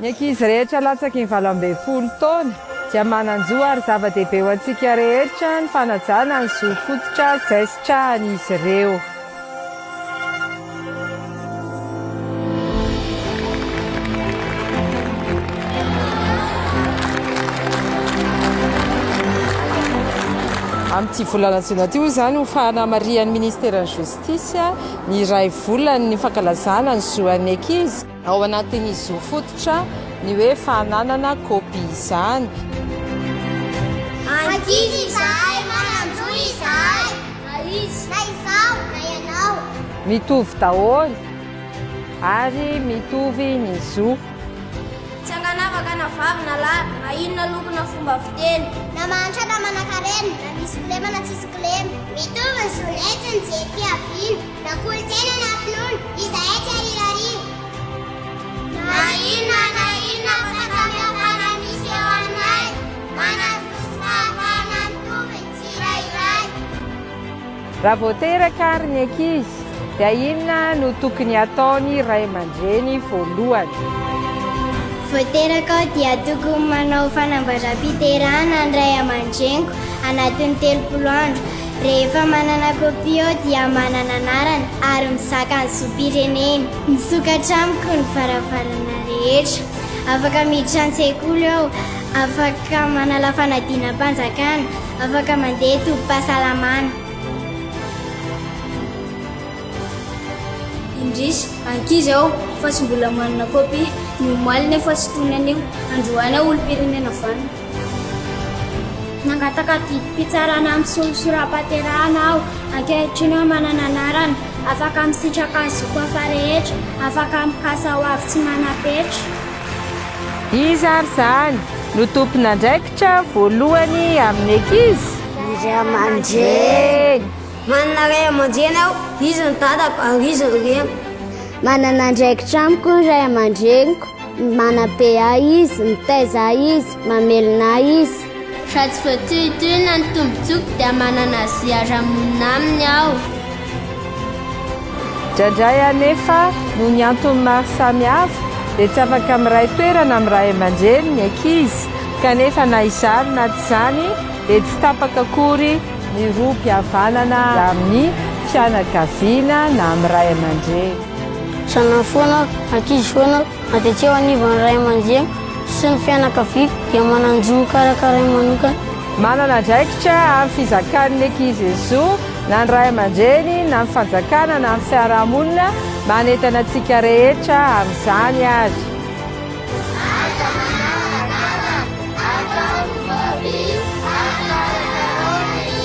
Ny ankizy rehetra latsaky ny valo ambin'ny folo taona dia manan-jo ary zava-dehibe ho antsika rehetra ny fanajana ny zo fototra izay sitrahan'izy ireo. Amin'ity volana jona ity hoy izany ho fanamarihan'ny Ministeran'ny Justice ny iray volany ny fankalazana ny zoan'ny ankizy. Ao anatin'ny zo fototra ny hoe fananana kopia izany. Ankizy izahay, manan-jo izahay. Na izy, na izaho, na ianao. Mitovy daholo ary mitovy ny zo. Tsy ankanavaka na vavy na lahy, na inona loko na fomba fiteny. Na mahantra na manan-karena, na misy kilema na tsisy kilema. Mitovy ny zonay tsy nijery fiaviana. Na kolontsaina na finoana, izahay tsy arirariana. Na inona na inona fahasamihafana misy eo aminay, manazosy fahafahana mitovy ny tsirairay. Raha vao teraka ary ny ankizy, dia inona no tokony ataony ray aman-dreny voalohany? Vao teraka aho dia tokony manao fanambazam-piterahana ny ray aman-dreniko anatin'ny telopolo andro. Rehefa manana kopia aho dia manana anarana ary mizaka ny zom-pirenena. Misokatra amiko ny varavarana rehetra. Afaka miditra an-tsekoly aho, afaka manala fanadinam-panjakana, afaka mandeha tobim-pahasalamana. Indrisy, ankizy aho fa tsy mbola manana kopia. Ny omaly nefa tsy toy ny anio. Androany aho olom-pirenena vanona. Nangataka didim-pitsarana amin'ny solosoram-pahaterahana aho. Ankehitriny aho manana anarana. Afaka misitraka ny zoko hafa rehetra. Afaka mikasa ho avy tsy manam-petra. Iza ary izany no tompon'andraikitra voalohany amin'ny ankizy? Ny ray aman-dreny. Manana ray aman-dreny aho, izy no dadako ary izy no reniko. Manana andraikitra amiko ny ray aman-dreniko. Manabe ahy izy, mitaiza ahy izy, mamelona ahy izy. Raha tsy voatohitohina ny tombontsoako dia manana azy hiara-monina aminy aho. Indraindray anefa, noho ny antony maro samihafa, dia tsy afaka miray toerana amin'ny ray aman-dreny ny ankizy, kanefa na izany na tsy izany dia tsy tapaka akory ny rohim-pihavanana amin'ny fianakaviana na amin'ny ray aman-dreny. Zanany foana aho, ankizy foana aho, na dia tsy eo anivon'ny ray aman-dreniko sy ny fianakaviako dia manan-jo ho karakarainy manokana. Manana andraikitra amin'ny fizakan'ny ankizy zo na ny ray aman-dreny na ny fanjakana na ny fiarahamonina manentana antsika rehetra amin'izany ary. Aza manarakaraka atao ny fobia araka ny karaoty.